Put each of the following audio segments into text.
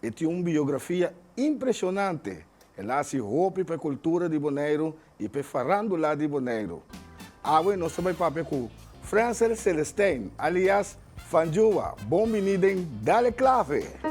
E tin un biografia impresionante. El a hasi hopi pa e kultura di Boneiru i pa e farandula di Boneiru. Awe nos ta bai papia ku Frensel Celestein, alias Fanjua. Bon bini den Dale Clave!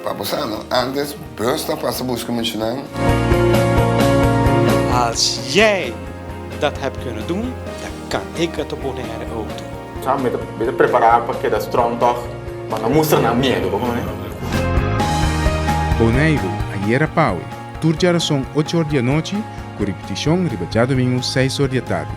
Pa bo sano antes bus ta pasa buska muchanan. Als jij dat hebt kunnen doen, dan kan ik het op Bonaire ook doen. Sa mi ta prepará pa keda strong tòg, pa no mustra nan miedu, bo kontá mi. Boneiru, Ayera Pawe, tur djarason ocho or di anochi, ku ripitishon riba djadumingu seis or di atardi.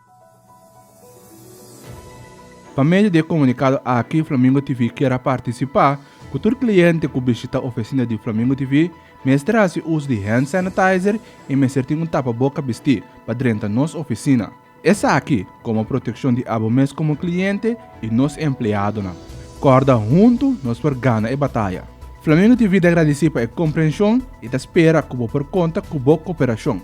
Pa medio di e komunikado aki Flamingo TV kier a partisipá ku tur kliente ku bishitá ofesina di Flamingo TV mester a hasi uso di hand sanitizer i mester tin un tapaboka bistí pa drenta nos ofesina. Esaki komo protekshon di abo mes komo kliente i nos empleadonan. Kòrda huntu nos por gana e bataya! Flamingo TV ta gradisí pa e komprenshon i ta spera ku bo por konta ku bo koperashon.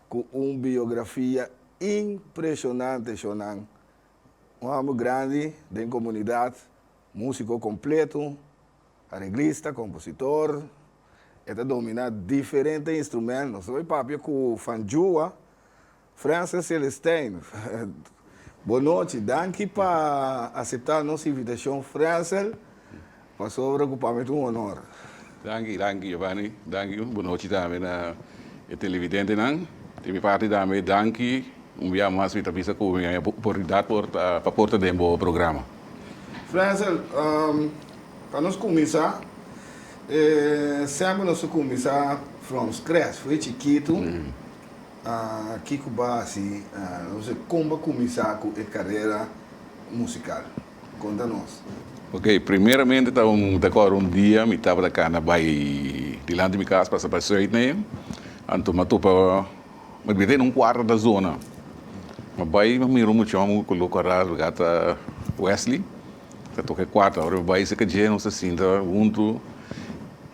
Cu un biografia impresionante Shonan, un homber grandi den comunidad, musico completo, areglista, compositor, e ta domina diferente instrumentos. Lo e papia cu fanjua, Frances Celestijn. Bo nochi, danki pa acepta nos invitacion Francel. Pasobra cu pa mi ta un honor. Danki, danki Giovanni, danki. Un bunochi tambe na e televidentenan. Di mi parti tambe danki un bia mas mi ta bisa cu mi a haya oportunidad por ta pa porta den bo programa. Frenzel, pa nos cuminsa, semper nos ta cuminsa from scratch, from e chikito, kico basi nos a comba cuminsa cu e carera musical? Konta nos. Ok, primeramente ta un ta kore un dia mi tabata kana bai dilanti mi kas pasa pa Zuid na e, anto ma topa mi bita in un kuarto ta zona. Ma bai ma mira un muchon ku lo koras luga ta Wesley ta toka e kuarto ora mi bai serka dje nos ta sinta huntu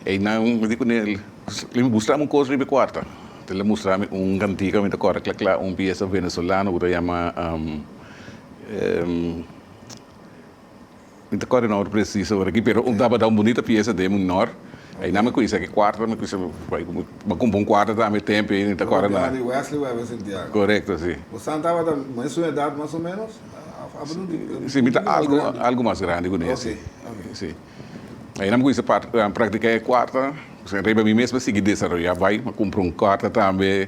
einan mi di kuné le mi mustrami un kos riba e kuarto ta le mustrami un kantika mi ta kore kla kla un piesa venezolano ku ta yama. Mi ta kòrda no presiso ora aki, pero un tabata un bunita piesa den Munor. Einan mi kuisa ki kuarta, mi kuisa bai ku mi kumpa un kuarta tambe e tempu ei, mi ta kòrda na. Di Wesley ku Ever Santiago. Korekto, si. Bosa tabata mesun edat mas o menos? Si, mi ta algu algu mas grandi ku nesei. Oke, oke. Si. Einan mi kuisa par praktiká e kuarta, riba mi mes mi sigui desaroyá bai. Mi kumpra un kuarta tambe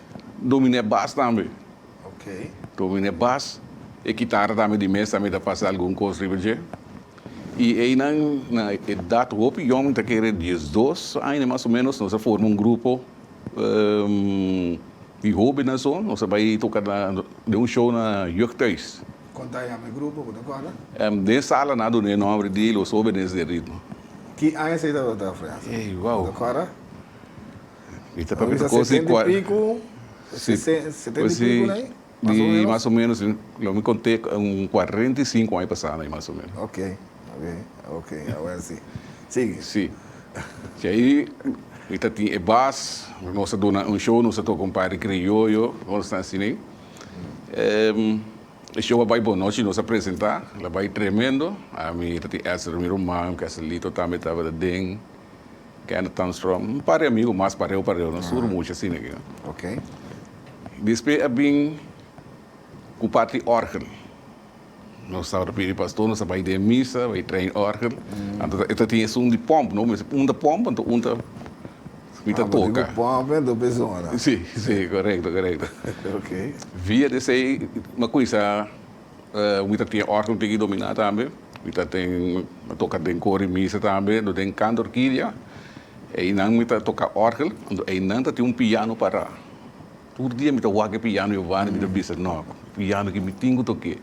Dominé Bas tambe. Dominé Bas e kitara tambe di mes tambe ta pasa algun kos riba dje. I einan na edat hopi yòmen ta kere dies dos aña mas o menos nos a forma un grupo di hobennan so, nos a bai toka na den un show na Jeugdhuis. Kon ta yama e grupo, bo ta kòrda? Den sala nan a duna e nòmber di Los Hobenes del Ritmo. Ki aña esei tabata, Frease? Ey, wou. Bo ta kòrda? I ta papia ta kosa di kual. Di mas o menos, lo mi konte un kuarenta i sinku aña pasando ai mas o menos. Ok, ok, awor si. Sigui. Si. P'esei ai mi ta tin e bas, nos ta duna un show, nos ta toka un par di krioyo, nos ta asina ei. E show a bai bon, nochi nos a presenta, a bai tremendo. Ami ta tin Elsa Romero Magno, Keslito tambe tabata den. Kenneth Tunstrom, un par di amigu mas pareu pareu, no sur mucha asina aki no. Ok. Despues a bin cu parti orgel. Nos tabata pidi pastor, nos a bai den misa, bai train orgel. Anto ta, e ta tin esun di pomp, no mester un ta pomp, anto un ta mi ta Ah, pero toca. digo pomp en dos persona. Si, si, correcto, correcto. Ok. Via di esey, mi a cuminsa. Wi ta tin orto tin i dominá tambe. Wi ta tin a toka den kori misa tambe do den kant orkidia. Einan mi ta toka orgel do einan ta tin un piano pará. Tur dia mi ta wak e piano i wanda mi ta bisa no piano ki mi tin ku tok'é.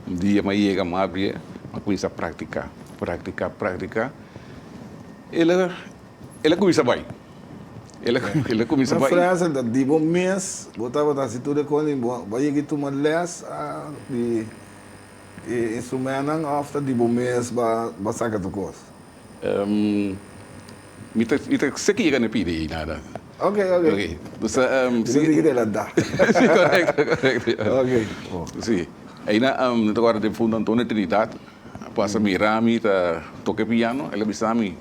Un dia m'a yega m'a abri'é m'a kuminsá praktiká praktiká praktiká. El a El a cuminsa bai. El a el a cuminsa bai. Na Francia ta di bo mes bo tabata haci tur e cos y bo bai yega y tuma les di e instrumentnan of ta di bo mes ba ba saca tur cos? Mi ta mi ta seki yega na pidi y nada. Ok ok. Ok mi ta dij cu el a da. Si correcto correcto ya. Ok bo. Si ayina mi ta guarda den funda Antonio Trinidad a pasa mira mi ta toca e piano el a bisa mi.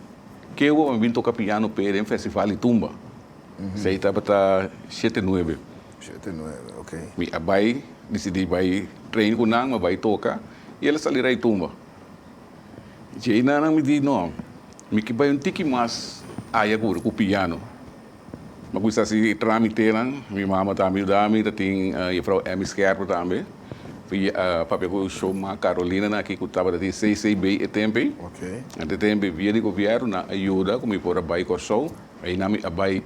Ke awo mi bin toka piano p'e den festival di tumba. Esei tabata shete nuebe. Shete nuebe, ok. Mi a bai, disidí bai train ku nan, mi a bai toka i el a sali rei tumba. Dje na nan mi di, No, mi ke bai un tiki mas aya ku piano. Mi a cuminsa haci e tramitenan. Mi mama ta ami yuda. Mi ta tin Juffrouw Emmy Scherper tambe. Papia cu show ma Carolina na aki cu tabata tin CCB e tempe. Antes tempe via di gobierno nan a yuda cu mi por a bay Corsou. Ayina mi a bay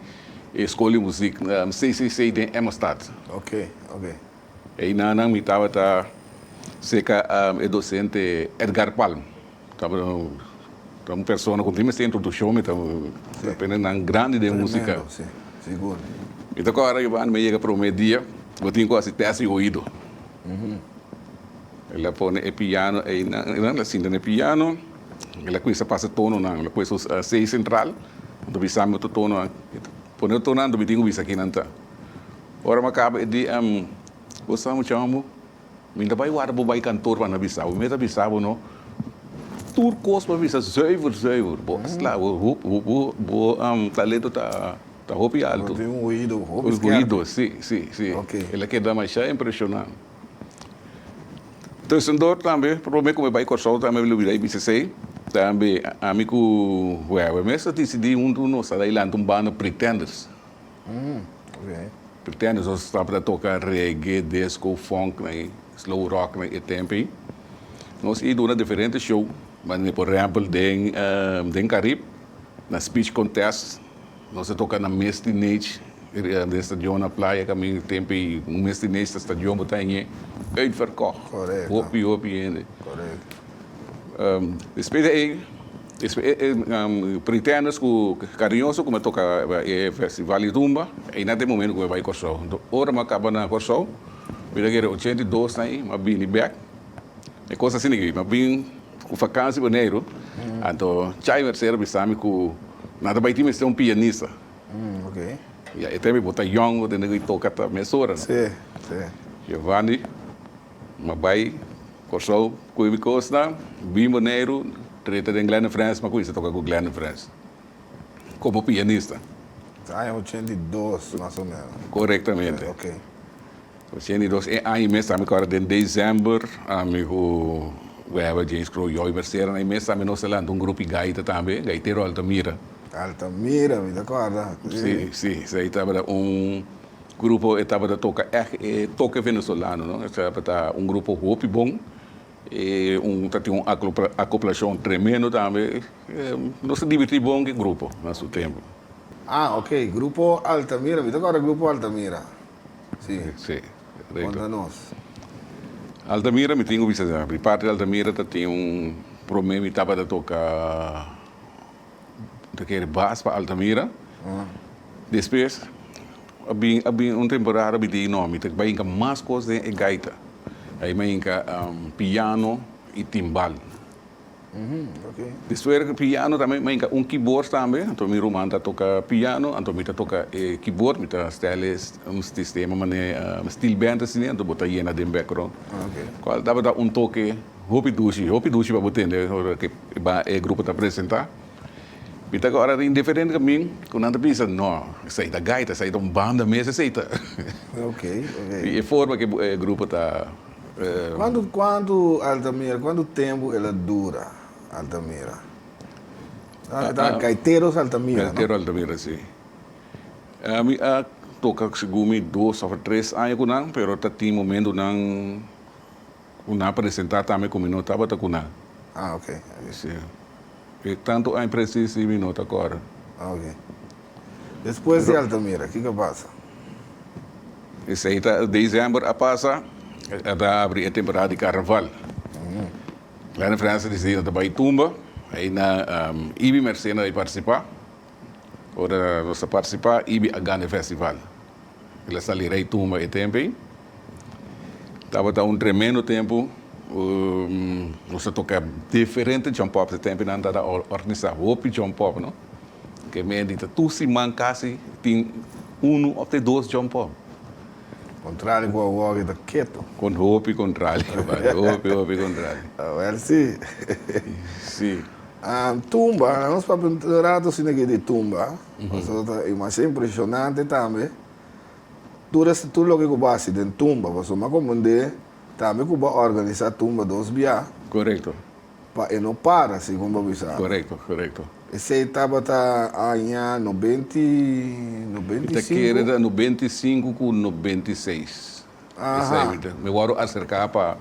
e school di muziek CCC den Emmerstad. Einanan mi tabata cerca e docente Edgar Palm. Tabata un persona cu tin mester introduccion, mi ta aprende nan grandi den musica. Mi ta kora Giovanni mi yega prome dia, bo tin cu haci test di oido. El a pone e piano einan, einan a sinta den e piano, el a cuminsa pasa tononan, el a pue su C central, mi ta bisa mi otro tononan, pone otro tononan, mi tin cu bisa kinan ta. Ora mi a kaba e dia em bo sa mi chama bo mi ta bai warda bo bai kantoor pa mi bisa bo mi ta bisa bo no tur kos por bisa zuiver zuiver bo asla bo talento ta hopi alto tin un oido hopi skerp si si si el a keda masha impresiona tusen dor tambe prome ku mi bai Kòrsou tambe mi lo bira e bisa esei tambe ami ku Wewe mi mester disidi huntu nos a dai lanti un banda Pretenders. Pretende nos tabata toca reggae, disco, funk na e slow rock na e tempo ey. Nos ey duna diferente show manera por ehempel den den Carib na speech contest nos a toca na mes tinage den stadion na playa ka men e tempo ey un mes tinage ta stadion bo ta hañe uitverkocht hopi hopi hende. Despues de ey. Pretenders cu cariñoso cu me toca e festival di rumba y na te momento cu me bay Corsou. Enton ora me a caba na Corsou mi ta kere ochenta i dos na ay mi a bini bek. E cos asina ki mi a bin cu vakantie Boneiru anto Chai Mercero a bisa mi cu nan ta bay tin mester un pianista. Ya e tem ey bo ta yongo tende cu e toca ata mesora. Giovanni. M'a bai Kòrsou ku e mi kosnan, bin Boneiru, trete den Glenn Frans, m'a kuminsá toka ku Glenn Frans komo pianista. Ta aña ochenta i dos mas o ménos. Korektamente. Ok. Ochenta i dos. E aña mes ta mi kòrda den desèmber ami ku Webber, James Crow, Joy Mercera, na e mes ta mi nos a lanta un grupi gaita tambe, Gaitero Altamira. Altamira, mi ta kòrda. Sí, sí. Esei tabata un Grupo e tabata toca ec e toque venezolano no, e tabata un grupo hopi bon, e un ta tin un acoplacion tremendo tambe, nos a divirti bon cu e grupo na su tempo. Ah ok, grupo Altamira, mi ta acorda grupo Altamira, si, conta nos. Altamira mi tin cu bisa di parte di Altamira ta tin un prome mi tabata toca. ta kere bas pa Altamira. Despues a bin a bin un temporada mi tin no mi ta bai hinka mas cos den e gaita ai mi a hinka piano y timbal. Despues di piano tambe mi a hinka un keyboard tambe anto mi ruman ta toka piano anto mi ta toka e keyboard mi ta stel e un sistema mane steel band asina anto bo ta yena den background cual tabata un toke. Hopi dushi, hopi dushi pa bo tende ora ke ba e grupo ta presenta. Mi ta kora den diferente kamin ku nan ta bisa, no, esei ta gaita, esei ta un banda mes esei ta. Di e forma ke e grupo ta. Kuantu kuantu Altamira, kuantu tempu el a dura Altamira? E ta Gaiteros Altamira, no? Gaitero Altamira, si. Mi a toka segun mi dos òf tres aña ku nan, pero ta tin momentu nan. Cu nan a presenta tambe cu mi no tabata cu nan. Ah, ok. Mi si, Pe tanto aña precies si mi no ta acorda. Ok. Despues di Altamira, kico a pasa? Esey ta december a pasa, a ta abri e temporada di carnaval. Kleine Frans a decidi nan ta bay tumba, ay na Ibi Mercena a participa. Ora nos a participa, Ibi a gana e festival. El a sali rei tumba e tempu ei. Tabata un tremendo tempu. Nos a toka diferente jump-ups. E tempu ei nan tabata organisá hopi jump-up, no? Ke mendita tur siman kasi tin unu òf te dos jump-up. Kontrali ku awor ke ta ketu. Kon hopi kontrali, papá. Hopi, hopi kontrali. Awor sí. Sí. Tumba, nos papia un ratu asina ke di tumba. Pasobra ta demasiado impresionante tambe. Tur esei, tur loke ku bo hasi den tumba, pasobra mi a komprendé tambe ku bo a organisá tumba dos biaha. Korekto. Pa e no para, segun bo a bisa ami. Korekto, korekto. Esei tabata aña nobenti, nobenti i sinku? Mi ta kere ta nobenti i sinku ku nobenti i seis. Aha. Mi wòrdu aserká pa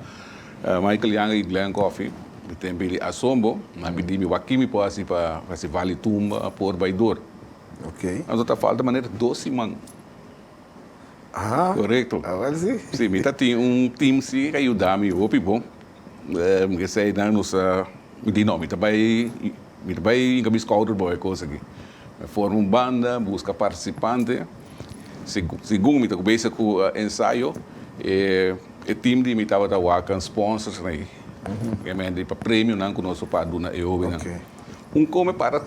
Michael Yanga i Glen Coffey. Mi ta emp'e di asombo. Mi a pidi mi, Wak-ki mi por hasi pa hasi vali tumba por bai dor? Ok. Anto ta falta manera dos siman. Aha. Korekto. Awor si. Si, mi ta tin un tim si a yuda mi hopi bon. Mi eseinan nos a, mi di no, mi ta bai, mi ta bai hinka mi skouder boe kos aki. Mi forma un banda, buska partisipante. Segun mi ta kubesa ku ensayo, e tim di mi tabata waka sponsors na ei, obviamente pa premionan ku nos a para duna e hobennan. Un kos mi para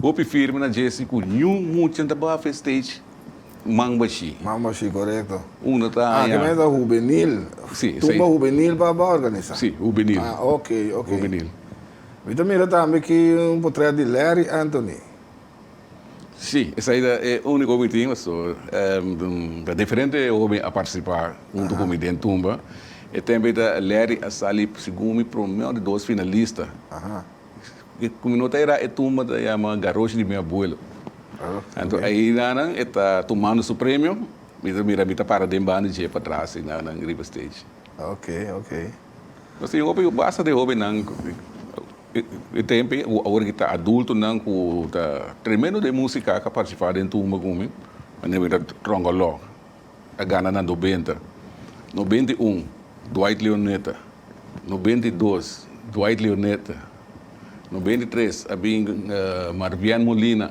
hopi firme na dje si ku niun muchanan ta baha fu e stage man bashí. Man bashí, korekto. Unda ta haña. Aki men ta hubenil. Tumba hubenil pa ba organisá. Sí, hubenil. Hubenil. Mi ta mira tambe ki un potrèt di Larry Anthony. Sí, esai ta e úniko mi tin, pastor. Ta diferente hóben a partisipá huntu ku mi den tumba. E tempu eta Larry a sali segun mi promé di dos finalista. Ku mi no ta era e tumba ta yama garoshi di mi abuelo. Anto ayinan e ta tumando su premio, mi ta mira mi ta para den banda dje patras, enan riba stage. Oke, oke. Nos tin hopi basta di hobennan e tempe ku awor ki ta adultonan ku ta tremendo den musika, ka partisipá den tumba ku mi, nan ke bira Trongolog, a gana na nobenta, nobenta i un, Dwight Leonetta, nobenta i dos, Dwight Leonetta, nobenta i tres a bin Marvian Molina.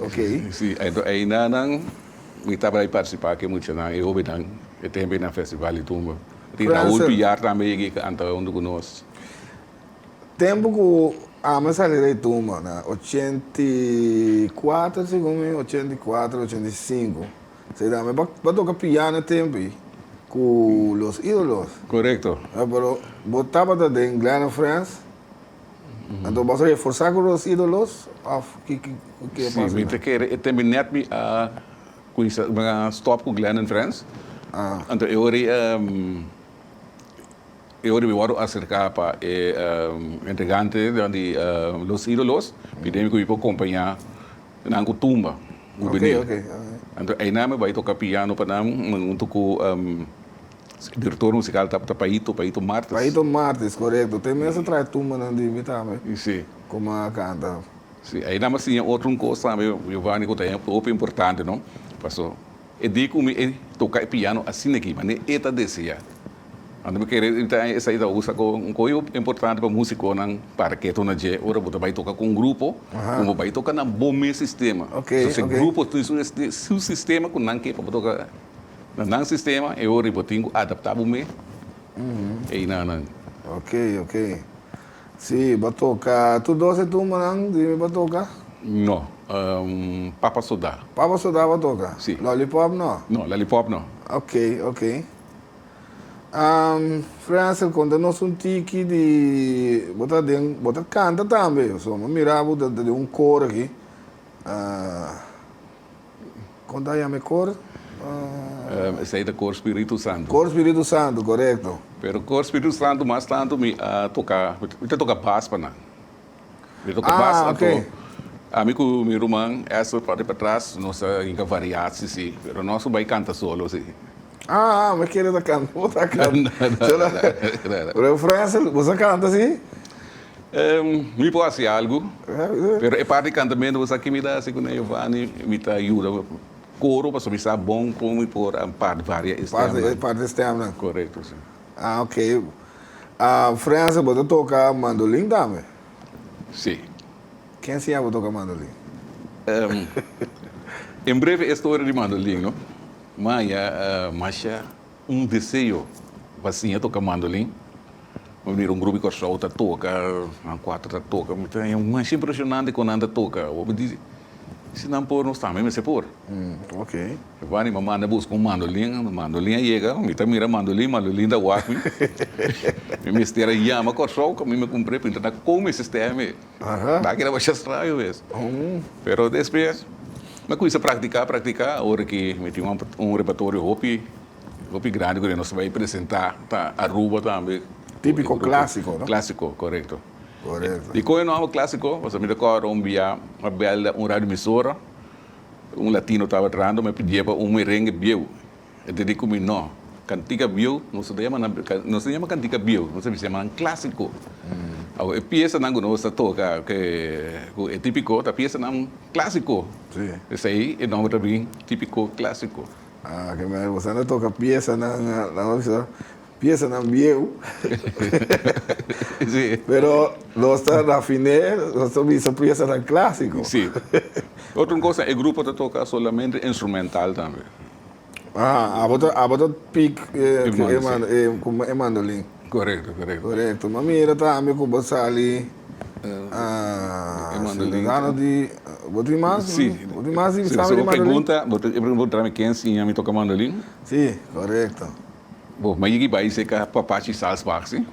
Oké. Sí, enton einanan mi tabata di participa cu e muchanan, e hobennan, e tempo ei na festival di tumba. Tin Raul Prancer. Piar tambe yega ei canta hondo cu nos. Tempo cu ami sali den e tumba na ochenta i cuatro, segun mi, ochenta i cuatro, ochenta i cinco, será, mi ba ba toca piano e tempo ei cu Los Idolos. Correcto. Pero bo tabata den Glenn of France? Anto boso e forsa ku nos idolos of ki ki e pasa na? Si mi ta kere e tembe net mi a kuminsa mi a stop ku Glen and Friends. Ah. Anto e ora e ora mi wòrdu aserka pa e entregante di Los Idolos pidemi ku mi por kompañá nan ku tumba ku bini. Oke oke. Anto ayina mi bai toka piano pa nan un tuku. E director musical tabata Paito, Paito Martis. Paito Martis, corecto. Te mester trae tumbanan di mi tambe. Y si. Coma a canta. Si, ahi nan mas tin e otro un cos tambe, Jovani, cu ta e hopi importante, no? Paso, e di cu mi e toca e piano asina aki, mane e ta desea. Anto mi kere di ta esa y ta usa como un coi hopi importante pa musiconan para ketonan dje, ora bo ta bay toca cu un grupo, cu bo bay toca na bo mes sistema. Paso, si grupo tin su sistema cu nan ke pa bo toca. Na nan sistema e ora bo tin cu adapta bo mee ey na nan. Ok, ok. Si, bo toca tur doce tumbanan di mi bo toca? No. Papa Soda. Papa Soda bo toca? Si. Lollipop no? No, Lollipop no. Ok, ok. Frensel, conta nos un tiki di, bo ta den, bo ta canta tambe, so mi mira bo ta den un coro aki. Con ta yama e cor? Uh... Esei ta cor Spiritu Santu. Cor Spiritu Santu, corecto. Pero cor Spiritu Santu mas tanto mi a toca, mi ta toca bas pa nan. Mi toca bas anto. Ah, ok. Ami cu mi ruman Esther parti patras nos ta hinca variaci, si. Pero nos no bay canta solo, si. Ah, ah, mi kere ta canta. Bo ta canta. Refrense, bo sa canta, si? Mi por hasi algu, pero e parti kantamento bo sa ke mi ta hasi kuné, Yovani? Mi ta yuda koro pasobra mi sa bon kon mi por part varia e stèmnan. Part e stèmnan. Korekto, si. Ah, ok. Frènse, bo ta toka mandolin tambe? Si. Ken enseña bo toka mandolin? En breve e storia di mandolin, no? Maya, Masha. Un deseo pa siña toca mandolin. Mi mira un grupo di Corsou ta toca, nan cuatro ta toca. Mi ta haya mas impresionante cu nan ta toca. Awo mi dici, si nan por, nos tambe mester por. Mi pa anima manda busca un mandolin. Mandolin a yega, mi ta mira mandolin, mandolin ta wak mi. Mi mester a yama Corsou, cu mi mi cumpre, pa intra na con mi sistema e. Nan keda masha straño mes. Pero despues mi a cuminsa practica, practica, ora ki mi tin un repertorio hopi, hopi grandi cu nos ta bay presenta pa Aruba tambe. Tipico clasico, no? Clasico, corecto. Corecto. Y con e nomber clasico, pasobra mi ta acorda un bia mi a bel un radioemisora, un latino taba drando, mi a pidiba un merengue bieu. E ta di ku mi, No, kantika bieu nos no ta yama nan, nos ta yama kantika bieu, nos a bisa yama nan klásiko. Awe, e piesanan ku nos ta toka ke ku e típiko ta piesanan klásiko. P'esei e nòmber ta bin Típiko Klásiko. A, ke mester ku esnan ta toka piesanan, nan a bisa piesanan bieu. Sí. Pero nos ta rafiné, nos ta bisa piesanan klásiko. Sí. Otro kos, e grupo ta toka solamente instrumental tambe. Ah, abo ta, abo ta pick eh, cu e mando, eh, cu e mandolin. Correcto, correcto. Correcto. Ma mira tambe cu bo sali, ah, e mandolin. Ciudadano di, bo tin mas? Si. Bo tin mas di sabi di mandolin? Si, bo pregunta, bo pregunta mi ken siña mi toca mandolin? Si, correcto. Bo, ma yigi bai seca papaci salzbaak, si?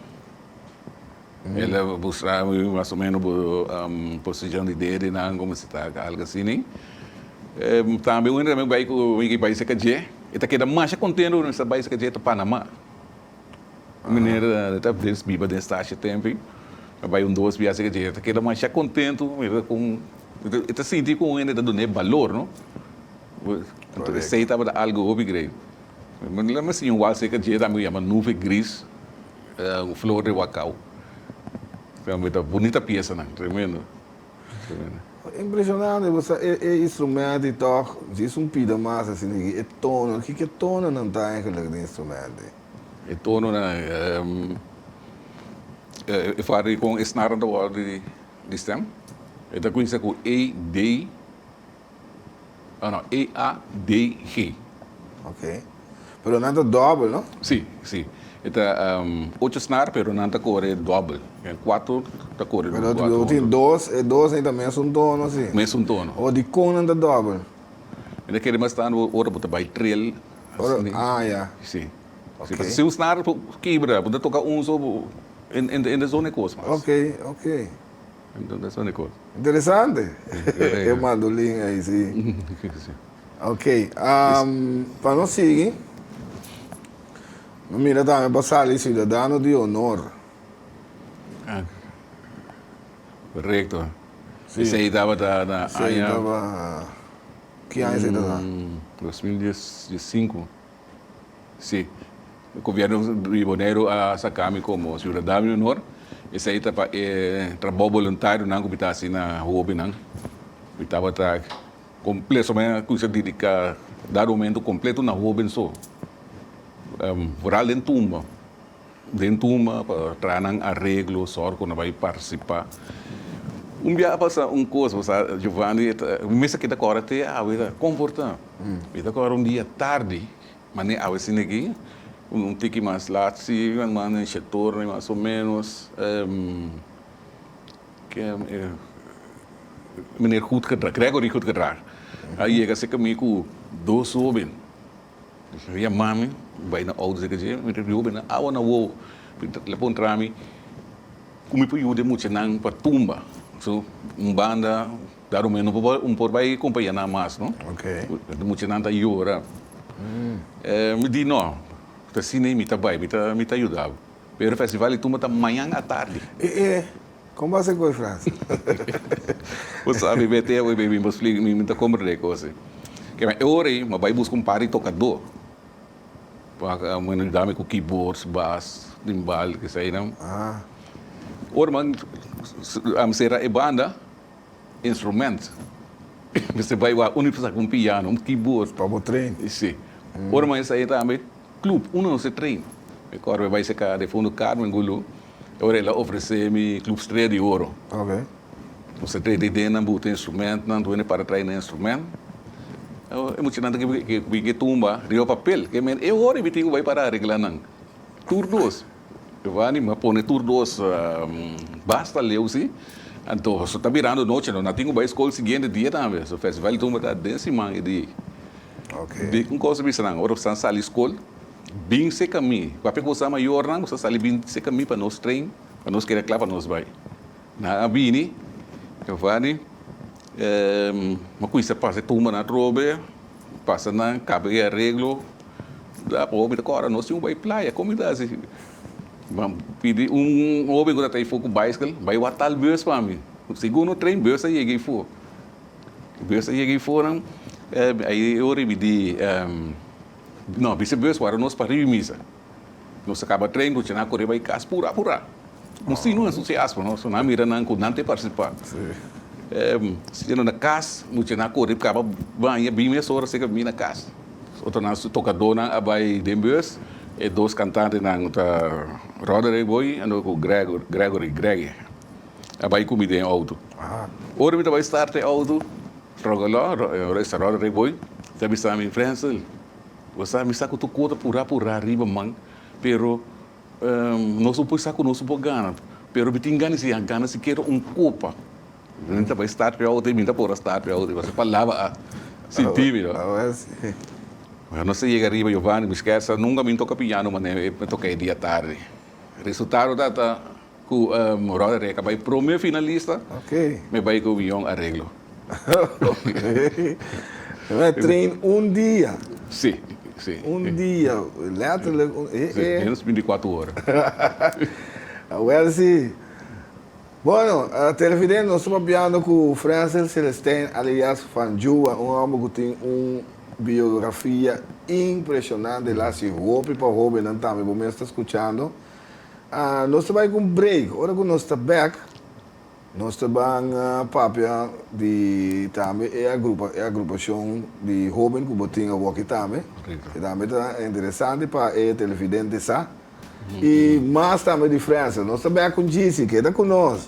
El a mustra mi mas o meno bo posicion di dede nan como si ta algo asini. Tambe un ramigo bay cu mi ki bay cerca dje e ta keda masha contento cu mi ta bay cerca dje ta Panama. Un meneer ta ves biba den Stasio tempi a bay un dos bia cerca dje e ta keda masha contento mira con e ta sinti con un hende ta dun'e balor no Anto esey tabata algo hopi great. Lo mas siño wal cerca dje tambe cu yama Nube Gris. Un flor de wakau. Tambe ta bunita piesanan. Tremendo. Tremendo. Impresionante bo sa e e instrumento y toch djis un pida mas a sigue aquí e tono. Kiko tononan ta eigenlijk den instrumento ey? E tononan ehm e fari con e snarnan ta wordo di stem. E ta cuminsa cu A, B, Oh no, E A D G. Ok. Pero nan ta doble, no? Si, si. E ta um, ocho snar, pero nan ta kore doble. Ken kuater ta kore Pero otro, kuater. otro tin dos, e dos ei ta mes un tono, si. Mes un tono. O di kon nan ta doble? Mi ta kere mas ta ando ora bo ta bai trill. Ora, Así, ah, ya. Si. Ok. Si, pasobra si un snar bo kibra, bo ta toka un so, bo, en, en, en ta zona e kos mas. Ok, ok. Interesante e mandolin ey si. Ok pa nos sigui no mira tambe pa sali ciudadano di honor. Corecto esey tabata na aña. Ki aña esey tabata? Dos mil dies y cinco. Sí. E Gobierno di Boneiru a saká mi komo Siudadano di Onor. Esei ta pa e trabou boluntarionan ku mi ta hasi na hobinan. Mi tabata komple, so mi a kuminsá dediká dado momento kompleto na hoben so. Foral den tumba. Den tuma pa traha nan areglo, sòr ku nan bai partisipá. Un bia a pasa un kos, bo sa, Giovanni e ta, mi mester a keda kòrda te awe e ta komportá. Mi ta kòrda un dia tardi, mane awe asina aki, un tiki mas lat si, nan manda den shektor nan mas o ménos, Meneer Goed-Gedrag, Gregory Goed-Gedrag, a yega cerca mi ku dos hóben. Mi a yama mi bai na ouders di caché, mi ta riba hopi na awa na wou. El a puntra mi cu mi por yuda e muchanan pa tumba. So, un banda ta rumba, no por, no por bai compaña nan mas, no. E muchanan ta yora. Mi di no, ta asina i mi ta bai, mi ta, mi ta yuda bo. Pero e festival di tumba ta mañan atardi. Con bo a hacer cu e frase? Bo sabi, b'e tea hoy, baby, bo splica mi, mi ta compra de e cos ei. Ke na e ora ei, m'abai busca un par di tocador, pa men a yudami cu keyboards, bas, timbal, eseinan. Ora m'an cera e banda, instrument. Mester bai wak unda mester sa un piano, un keyboard. Pa bo train. Sí. Ora mas e sa ain tambe club unda nos a train. Mi acorda mi a bai cerca di Fondo Carmen Gulu, e ora el a ofrece mi Club Strella di Oro. Oké. Nos a train den nan buta instrumentnan, dune para trae nan instrument. E muchanan ta kibi ke tumba riba papel. Ke men e ora e tin ku bai para regla nan. Tur dos. Giovanni, m'a pone tur dos basta leu si. Anto so ta birando noche, no na tin ku bai skol siguiente dia tambe. So festival di tumba ta den siman e di. Di un kos ta bisa nan, ora boso ta sali skol, bin seka mi. Papia ku boso ta mayornan, boso ta sali bin seka mi pa nos trein, pa nos keda kla pa nos bai. Nan a bini, Giovanni, m'a kuminsa pasa e tumbanan atrobe. Pasa na caba e areglo la hopi ta cora nos tin bai playa con mi ta haci ban pidi un hopi cu ta ta efo cu bicycle bai wak tal bus pa mi segundo tren bus a yega efo bus a yega efo nan ayi ora bidi no bici bus wara nos pa riba misa. Nos a kaba tren ku Chena kore bai kas pura pura. Nos tin un entusiasmo no, so nan mira nan ku nan te partisipa. Siendo na kas ku Chena kore kaba baña bin mes ora seka bin na kas. Otro nan su tokadónan a bai den bus, e dos kantantenan ku ta Roderick Boy anto ku Gregory, Greggy, a bai ku mi den outo. Ora mi ta bai start e outo, Roderick Boy ta bisa mi, Frensel. Gosa, mi sa ku tur kota purá purá riba man, pero nos un poi sa ku nos un por gana. Pero mi tin gana si a gana sikiera un kopa. Mi ta bai start p'e outo i mi ta por a start p'e outo, pasobra palabra a sinti mi. Ora nos a yega riba Giovanni Busquets, nunka mi toka piano manera e toka e dia tardi. Resultado ta ta. cu Roda Reca bay prome finalista, me bay cu miyon areglo. Oké. Train un dia. Si, si. Un dia, letterlijk. Minus binti kuater ora. Awel si. Bueno, Televidente, nos ta papiando cu Frensel Celestijn alias Fanjua, un homber cu tin un biografia impresionante, el haci hopi pa hobennan tambe, bo mes ta scuchando. Nos ta bai ku un break. Ora ku nos ta bek, nos ta ban papia di tambe e agrupashon di hoben ku bo tin awoki tambe, ke tambe ta interesante pa e televidente sa. I mas tambe di Fresa. Nos ta bek ku Jisi. Keda ku nos.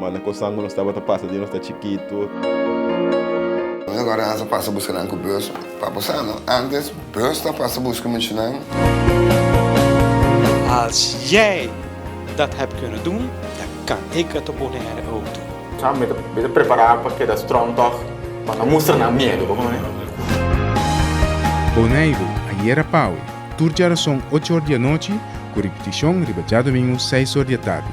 Ma na kosan ku nos tabata pasa di nos ta chikitu. Mi agora ansa pasa buska nan ku bus pa Bosano. Antes bus ta pasa buska muchanan. Als jij dat hebt kunnen doen, dan kan ik het op Bonaire ook doen. Sa mi ta prepará pa keda strong tòg, pa no mustra nan miedu, bo kontá mi. Boneiru, Ayera Pau, tur djarason ocho or di anochi, ku ripitishon riba djadumingu seis or di atardi.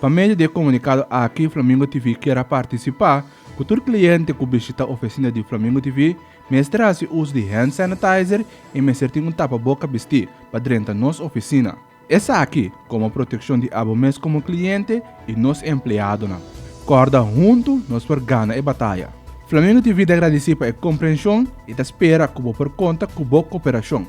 Pa medio di e komunikado aki Flamingo TV kier a partisipá ku tur kliente ku bishitá ofesina di Flamingo TV mester a hasi uso di hand sanitizer i mester tin un tapaboka bistí pa drenta nos ofesina. Esaki komo protekshon di abo mes komo kliente i nos empleadonan. Kòrda huntu nos por gana e bataya. Flamingo TV ta agradesí pa e komprenshon i ta spera ku bo por konta ku bo koperashon.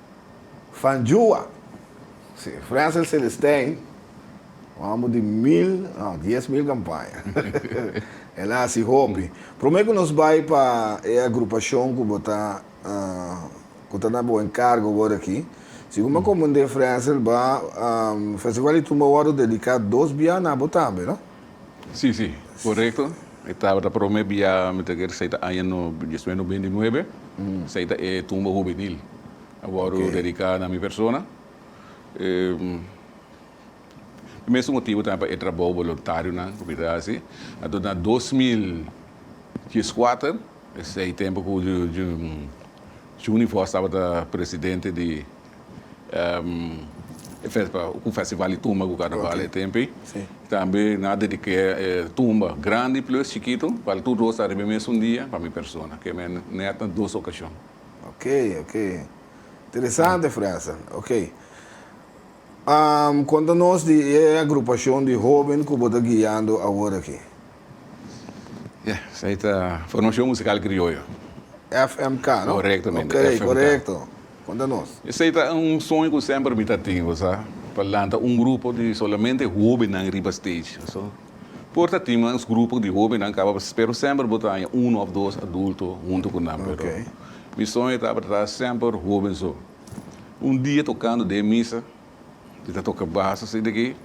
Van Juwa, si, Frenzel Celestijn, un homber di mil, no, dies mil campaña. El a haci hopi. Prome cu nos bay pa e agrupacion cu bo ta, cu ta na bo encargo worde aki, segun bo comende, Frenzel, ba, Festival di Tumba worde dedica dos bia na bo tambe, no? Sí, sí, korekto. E tabata promé bia mi ta keer esei ta aña no diesnuebe, beintinuebe. Esei ta e tumba hubenil a wòrdu dediká na mi persona. E mesun motibu tambe pa e trabou boluntarionan ku mi ta hasi. Anto na dos mil dies kuater, esei tempu ku Juni Vos tabata presidente di. em, e festa, ku festival di tumba ku karnaval e tempe. Sí. Tambe nan a dedik'é e tumba grandi plus chikitu, bal tur dos ta riba e mesun dia pa mi persona, ke men nèt na dos okashon. Ok, ok. Interesante frase. Ok. Am, konta nos di e agrupashon di hóben ku bo ta guiando awor aki. Ya, esai ta Formacion Musical Crioyo. FMK, no? Correctamente, okay, FMK. correcto. Conta nos. Esai ta un soño cu semper mi ta tin, bo sa, pa lanta un grupo di solamente hobennan riba stage. So, por ta tin mas grupo di hobennan caba, pero semper bo ta haña uno of dos adulto hunto cu nan, pero Okay. mi soño tabata ta semper hoben so. Un dia tocando den misa, Mi ta toka bas asina aki,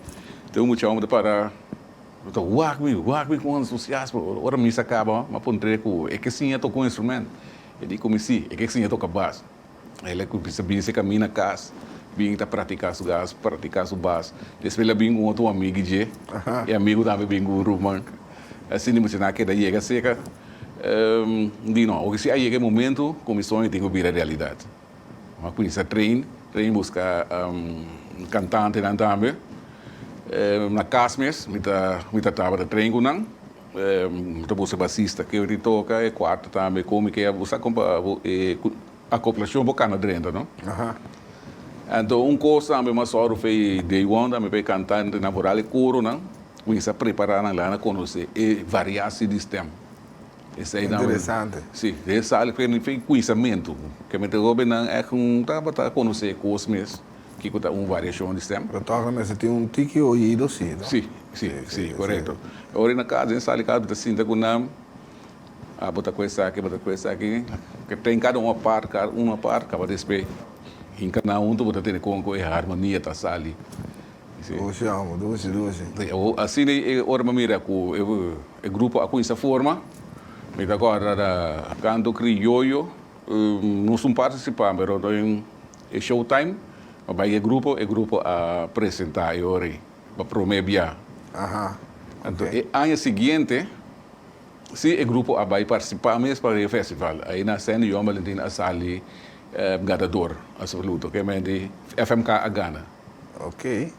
te un muchachnan ta para, lo ta wak mi, wak mi con entusiasmo. Ora misa caba, mi a puntr'e cu e ke siña toca un instrumento. E di cu mi si, e ke siña toca bas. El a cuminsa a bisa cami na cas, bin ta practica su cas, practica su bas. Despues el a bin cu otro amigu dje, e amigu tambe bin cu un ruman. Asina e muchachnan a keda yega cerca. Mi di no, oca si a yega e momento cu mi soño tin cu bira realidad. Bo a cuminsa train, train busca cantantenan tambe. Na cas mes mi ta mi ta tabata train cu nan. Bo ta busca basista ke oir e toca, e cuarto tambe con mi ke a usa con pa e acoplacion bo cana drenta, no? Anto un cos tambe mas ora fe day one tambe pa e cantantenan foral e coronan cuminsa prepara nan la na conoce e variaci di stem. Interesante. Si, den sali ku e nivel di kunsamentu. Kèmente Robin nan èk tabata konosé kos mes kiko ta un variashon di stèm. Ta tòk nan mester tin un tiki oido, si no? Si, si, si, korekto. E ora i na kas, den sali kas, bo ta sinta ku nan, a bo ta ku esaki, bo ta ku esaki, tren kada un apart, kada un apart, kaba despues hinka nan huntu bo ta tene kon ku e harmonia ta sali. Dushi amo, dushi, dushi. Asina e ora mi a mira cu e grupo a cuinsa forma, mi ta corda ta canto Criollo, nos un participa, pero den e show time a bay e grupo, e grupo a presenta e ora ey, pa prome bia. Anto e aña siguiente si e grupo a bay participa mes pa e festival, ayina Sandy Johan Valentin a sali ganador absoluto, kende FMK a gana. Oke.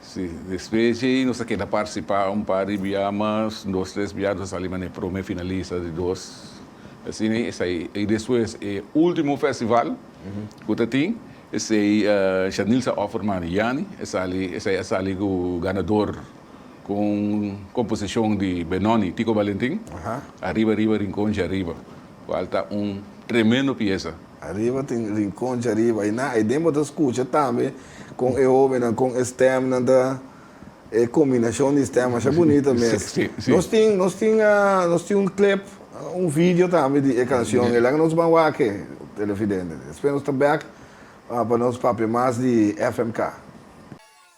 Si, despues dje nos ta keda participa un par di bia mas, un dos tres bia nos a sali manera prome finalista di dos. Asina esai. I despues e ultimo festival cu ta tin, esai Shanilza Offerman di Yani a sali, esai a sali cu ganador cu un composicion di Benoni, Tico Valentin, Arriba Arriba Rincon Dje Arriba, cual ta un tremendo pieza. Ariba tin rincon dje ariba y na ayden bo ta scucha tambe con e hobennan con e stemnan ta, e combinacion di stem masha bunita mes. Nos tin, nos tin, nos tin un clip, un video tambe di e cancion, e laga nos ban wak e, Televidente. Despues nos ta bek pa nos papia mas di FMK.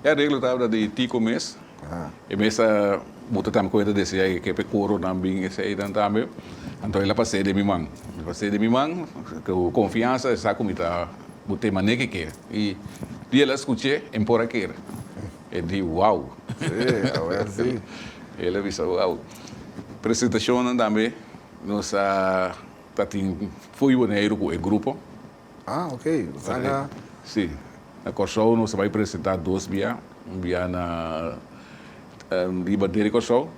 E areglo tabata di Tico mes. E mes a buta tambe cuenta di esey, ke pe coronan bin eseynan tambe. Anto el a pasey den mi man. El pasey den mi man cu confiansa, el sa cu mi ta bu te mane ke kier. Y di el a scuche, en por a kier. E di, wow! Sí, a wer si. El a bisa, wow! Presentacionnan tambe nos a ta tin fo'i Boneiru cu e grupo. Ah, ok. Sanga. Sí. Na Kòrsou nos a bai presentá dos bia. Un bia na riba deri Kòrsou,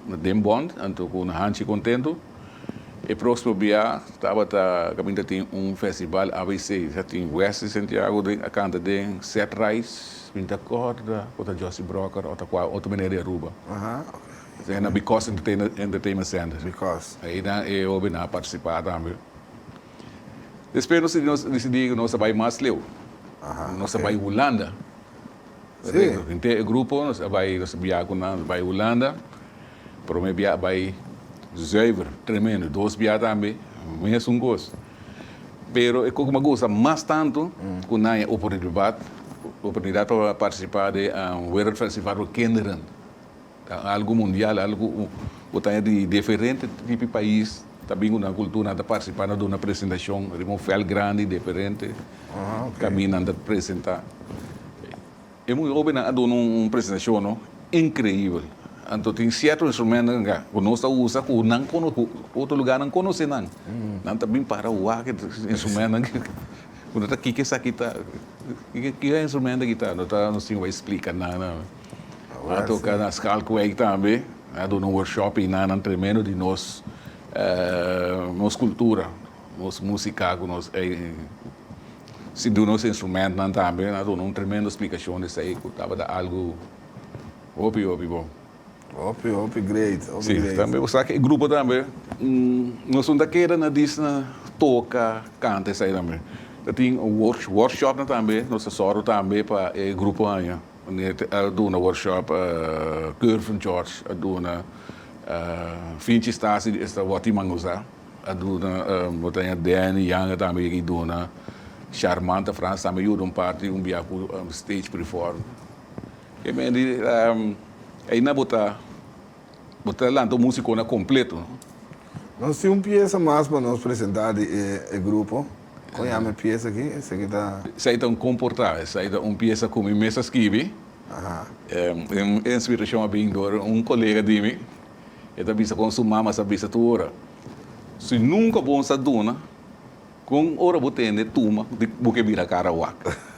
na den Bond, anto ku un hanchi kontentu. E próksimo bia tabata kaminda tin un festival ABC. Sa tin Wesley Santiago den, a kanta den Set Rice. Mi ta kòrda ku ta Josy Brokker òf ta kua otro meneer di Aruba. Esei na Bikòs Entertainment Centre. Bikòs. Einan e hobenan a partisipá tambe. Despues nos decidí cu nos ta bay mas leu. Nos ta bay Hulanda. Junté e grupo, nos a bay, nos a bia cu nan, nos a bay Hulanda. Prome bia a bay zuiver, tremendo. Dos bia tambe, mesun cos. Pero e coco m'a gusta mas tanto, cu nan haya oportunidad pa participa den Wereldfestival for Kinderen. Ta algu mundial, algu ku ta di diferente tipi pais. Ta bin ku nan kultura nan ta partisipá na duna presentashon riba un vèlt grandi diferente. Tambi nan ta presentá. E muy hóbennan a duna un presentashon no inkreibel. Anto tin sierto instrumentonan ka ku nos ta usa ku nan kono ku otro lugarnan konosé nan. Nan ta bin para wak e instrumentonan ki ku nan ta kiki esaki ta. Kiba e instrumento aki ta? Nos tin wak splika nan. Nan a toka na Schalkwijk tambe. Nan a duna un workshop einanan tremendo di nos nos cultura, nos musica cu nos sindu nos instrumentonan tambe. Nan a duna un tremendo explicacion di esai cu tabata algo hopi hopi bon. Hopi hopi great, hopi great. Si, tambe bo sa cu e grupo tambe nos no ta keda na disna toca, canta esai tambe. Ta tin workshopnan tambe nos ta zorgo tambe pa e grupo haya. Meneer te a duna workshop Curve George a duna finchi stasi di esta woti mangusa a duna Botanya Danny Yanga tambe yega y duna Sharmanta Frans tambe yuda un parti un bia cu stage preform e men di ayina bo ta bo ta lanta un musicona completo no. Nos tin un piesa mas pa nos presenta di e grupo. Kon yama e piesa aki? Esaki ta. Esaki ta un komportá. Esaki ta un piesa ku mi mes a skibi. E inspirashon a bin dor un kolega di mi. E ta bisa kon su mama sa bisa tur ora, Si nunka bo sa duna, kon ora bo tende tuma di bo ke bira kara wak?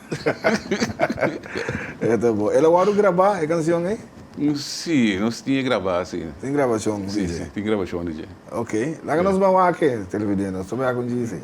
E ta bon. El a wòrdu grabá e kanshon ei? Sí, nos tin e grabá, sí. Tin grabashon di dje? Sí, sí, tin grabashon di dje. Ok. Laga nos bai wak-e, televidiente. Nos ta bai akun djis ei.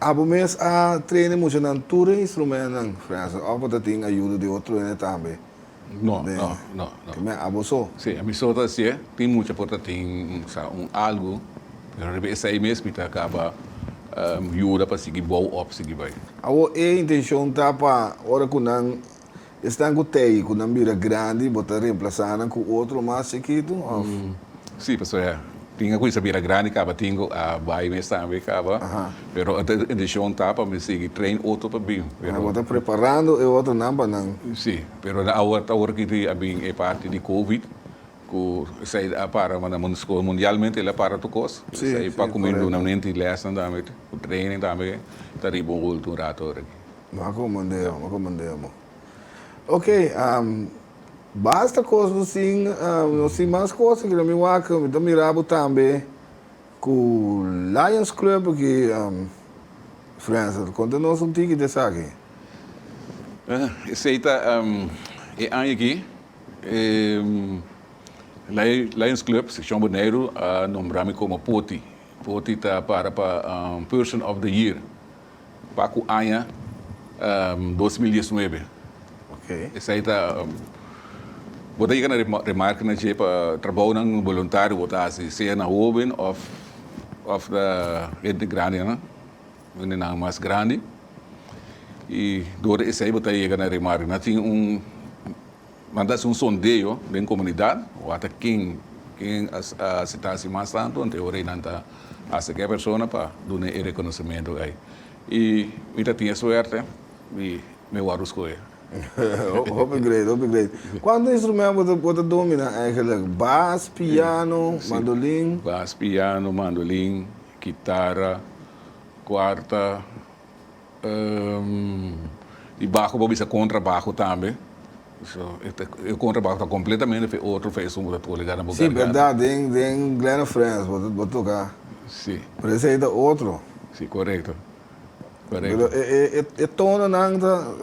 Abo mes a traine muchanan tur e instrumentnan, Fransjo, of bo ta tin ayudo di otro hende tambe? No, no, no, no. Ki meh, abo so? Si, ami so ta hasié. Tin mucha por ta tin un sa, un algu, pero riba esei mes mi ta caba yuda pa sigui bou op sigui bai. Awor e intencion ta pa ora cu nan Esnan ku tei ku nan bira grandi bo ta remplasá nan ku otro mas chikitu òf? Sí, pasobra tin e ku sa bira grandi kaba tin ku a bai mes tambe kaba, pero e inteshon ta pa mi sigui train otro pa bin, pero. Bo ta preparando e otronan pa nan. Sí, pero na awor ta awor kiti a bin e parti di covid ku esei a para manda mun skol mundialmente el a para tur kos, esei pa kumindu nan menti lèsnan tambe, training tambe ta riba un hultu un rato oregui. Lo a comandé amo, a comandé amo. Ok, basta cos lo sin, lo sin mas cos aquí na mi wak. Mi ta mira bo tambe cu Lions Club aki, Frans, conta nos un tiki di esaki. Esey ta e aña aki e Lions Club seccion Boneiru a nombra mi como Poti. Poti ta para pa Person of the Year. pa ku aña dos mil diesnuebe. Esei ta bo ta yega na remarka na dje pa trabounan boluntario bo ta hasi sea na hoben òf òf na hende grandenan hende nan mas grandi i dor di esei bo ta yega na remarka na tin un Manda es un sondeo den comunidad, wata ken ken a a sita si mas tanto, enta e ora ei nan ta haci ke persona pa dun'e e reconocimiento ei. Y mi ta tin e suerte di mi wòrdu scohe. Hopi great, hopi great. Cuanto instrument bo ta bo ta domina eigenlijk? Bas, piano, mandolin? Bas, piano, mandolin, kitara, cuarta. y bajo bo bisa contra bajo tambe. So e contra bajo ta completamente fe otro fe esun bo ta por llega na bo garganta. Si berdad den den Glen of France bo bo toca. Si. Pero esey ta otro. Si corecto corecto. Pero e e e tono nan ta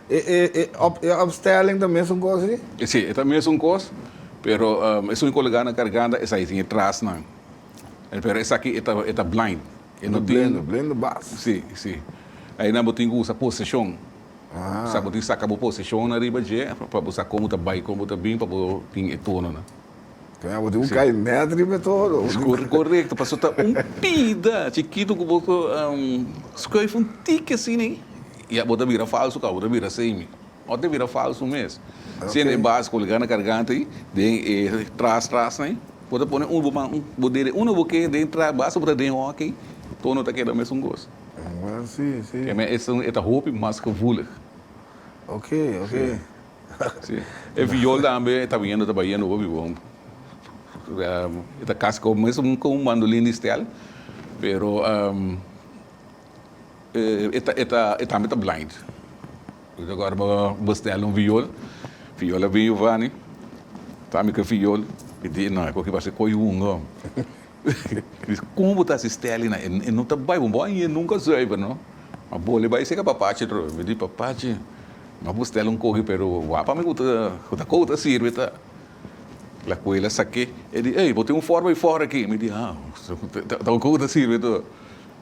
e e e op e opstelling ta mesun cos si? Si e ta mesun cos pero esun y por llega na garganta esey sin e trasnan pero esaki e ta e ta blind. E no tin. Blender, blender bas. Sí, sí. Ayina bo tin cu usa posicion. Ah. Sa bo tin saca bo posicion ariba dje pa bo sa con bo ta bay, con bo ta bin pa bo tin e tononan. Tene bo tin un cay net riba e tono. Es correcto. Paso ta un pida chikito cu bo scuif un tiki asina y ya bo ta bira falso caba bo ta bira semi. Ora ta bira falsu mes. Si ene bas colga na garganta ei, den e tras trasnan ei, bo ta pone un bo man, bo dere uno bo ke den tras, basta bo ta den hoc ei, tono ta keda mesun cos. Well, si, si. Ke men esun e ta hopi mas gevoelig. Ok, ok. Si, si. E viol tambe e ta biendo, ta biendo hopi bo. E ta casi como mesun con un bandolin di stel, pero. E tambe ta blind. Agora bo bestel un viol, viol a bin Giovanni, ta mi ke viol, e di e no, koki parse koi hunga. Como bo ta hasi steli na e? E no ta bai, bo a ñe nunca zuiver no. Ma bo le bai sega papachi atrobe. Mi di, papachi, mi a bestel un koki pero wak pa mi ku ta koup ta sirbi ta. Lakuel a sake, e di, ey, bo tin un forma di fora aki. Mi di, ha, ta un koup ta sirbi ta.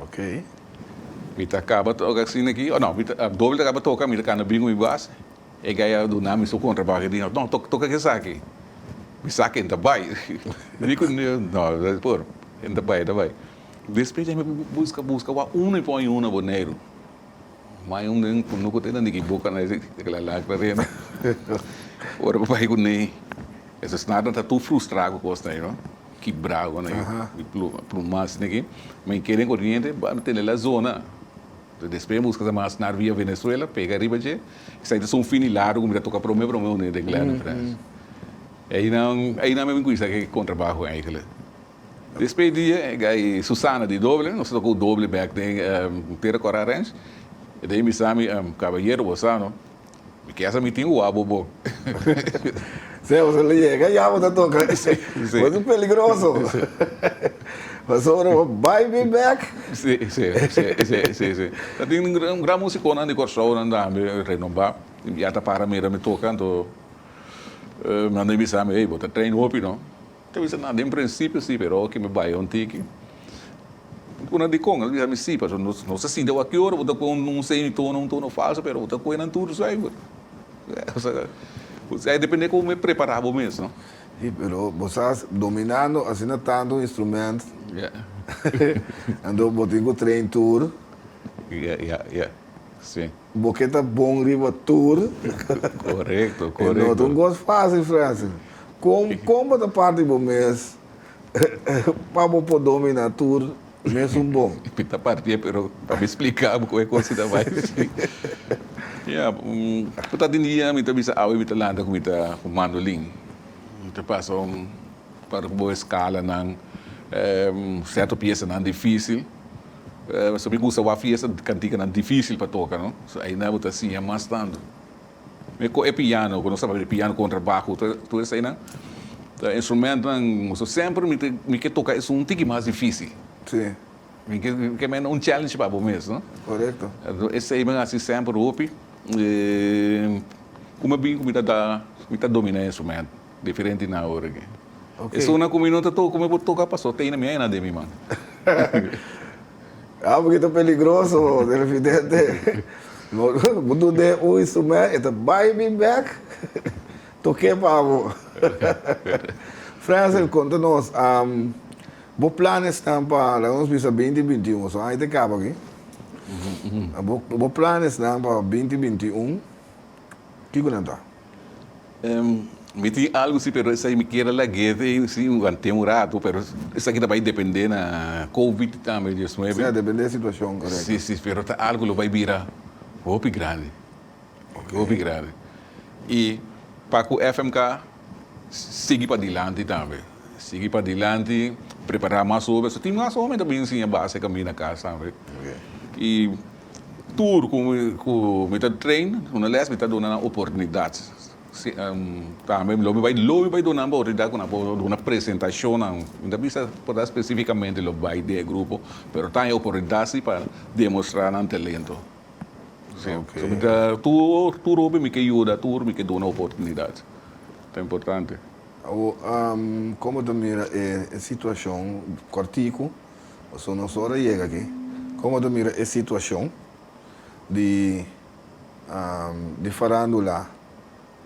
Oke. Mi ta kaba toka asin aki. O no, mi ta, Dobel ta kaba toka, mi ta kanda bingo mi base. E gay a duna mi su kontrabak. E di, No, toka, toka ke esaki. Mi saki, en ta bai. Mi di ku, No, por, en ta bai, en ta bai. Despues den mi buska, buska, wak uno i pon i uno Boneiru. Mai un nen ku nuku ta inda niki buka na e kila lakra renda. Ora ku bai ku nei, esei snarnan ta tur frustrá ku kos nei, no? Kibrá ku nei, i plu mas niki. Mi keda den koriente pa no tene la zona. Despues mi a buska sa mas snar via Venezuela, pega riba dje, i sa ta sun fin di largu ku mi ta toka promé promé un dia den Gleannum, Frans. Einan mi a bin kuminsá ku e kontrabaho eikel. Despé di e gai Susana di doble, nos ta toka un doble bek den Tera Cora Ranch. E ta bisami, Kabayero, bo sa no? Mi kesa mi tin uwa bo bo. Sea, bo ta lo yega ya bo ta toka. Bo ta peligroso. Pasobra bo bai mi bek. Sí, sí, sí, sí, sí. Ta tin un gran musiconan di Corsoanan tambe renombá. Ya ta para mira mi toka, anto manda mi bisami, ey, bo ta train hopi no. Ta bisa nan, den principio si, pero oki mi bai un tiki, una dikon el bisa mi si, paso nos ta sinti awor ki ora bo ta kue un semitono, un tono falso, pero bo ta kue nan tur zuiver. Osea, e depende komo mi a prepara bo mes, no? Si, pero bo sa, dominando asina tantu un instrument, anto bo tin ku train tur. Ya, ya, ya. Si. Bo ke ta bon riba tur. Korekto, korekto. E no ta un kos fásil, Fransel. Kon, kon bo ta parti bo mes pa bo por dominá tur mesun bon? Mi ta partié, pero pa mi spliká bo kon e kos ta bai así. Ya, por ta tin dia mi ta bisa awe mi ta lanta ku mi ta ku mandolin. Mi ta pasa un par ku bo eskalanan, sèrto piesanan difísil. Esaki mi gusta wak fiesta cantikanan dificil pa toca no so ayina bo ta siña mas tando. Mi coge e piano cu no staba e piano contrabajo tur esaki nan ta instrumentonan so semper mi ta mi ke toca esun un tiki mas dificil mi ke ke mende un challenge pa bo mes no enton esaki mi a hasi semper hopi y cu mi a bin cu mi ta domina e instrumento. Diferente na awor aki. E zona ku mi no ta toka, mi por toka paso tey na mi ayana den mi man. Ah, un pokito peligroso, televidente. Bo dun den un instrument, e ta bai bin bek, toke pa bo. Frazer, konta nos, bo plan esnan pa, laga nos bisa binti binti un, su anja ta kaba aki. Bo plan esnan pa binti binti un, kiko nan ta? Mi tin algu si pero esaki mi kier a lag'et ei si want'é un ratu pero esaki ta bai depend'é na covid tambe dies nuebe. Si a depend'é situashon korekto. Si si pero ta algu lo bai bira hopi grandi hopi grandi i pa ku FMK sigui pa dilanti tambe sigui pa dilanti prepara mas hopi tin mas hopi ta bin siña base kaminda kas tambe i. Tur cu mi ta train una les mi ta duna nan oportunidad. Tambe lo mi bay lo mi bay duna nan oportunidad cu nan por duna presentacionnan. Mi ta bisa por ta specificamente lo bay den e grupo pero ta e oportunidad si pa demostra nan talento. Tur hopi mi ke yuda tur mi ke duna oportunidad. Ta importante. Awo como ta mira e situacion cortico Pasobra nos ora a yega aki, como ta mira e situacion di di farandula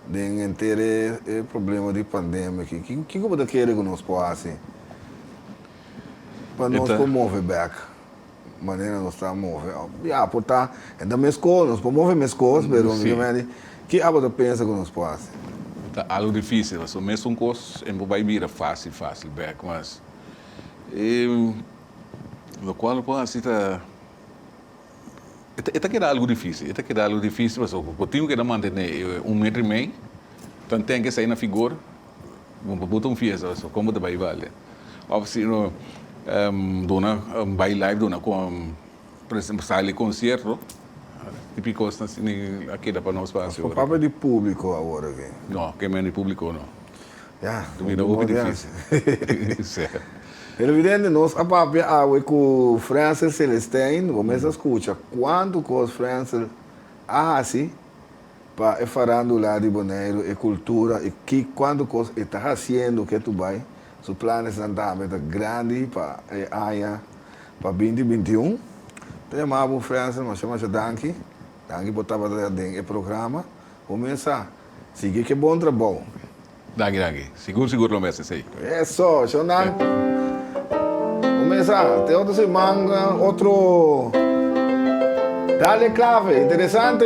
den henter e problema di pandemia aki, kico bo ta kere cu nos por haci pa nos por move bek manera nos ta move? Ya, por ta e ta mesco, nos por move mesco, pero mi ta medi ki abo ta pensa cu nos por haci? Ta algo dificil, pasobra mes un cos e no por bay bira facil facil bek, mas E locual no por haci ta e ta keda algo difícil, e ta keda algo difícil pasobra cu bo tin cu keda mantene un metro y mei, tan ten cu esai na figor, bo bo ta un fiesta pasobra con bo ta bay bale, of si no duna bay live duna con sali concierto, tipo di cosnan asina a keda pa nos pa haci ora aki. Papel di publico awor aki? No, kemey di publico no. Ya, ta bira hopi difícil. Televidente, nos a papia awe cu Frensel Celestijn. Bo mes a scucha cuantu cos Frensel a haci pa e farandula di Boneiru, e cultura y ki cuantu cos e ta haciendo ke tu bay. Su planesnan tambe ta grandi pa e aña, pa binti binti un. Ta yama bo Frensel masha masha danki. Danki por tabata den e programa. Bo mes sa. Sigui ke bon trabou. Danki danki. Sigur sigur lo mes esei. Eso, shon nan. Bo mesa, te otro siman otro Dale Clave, interesante.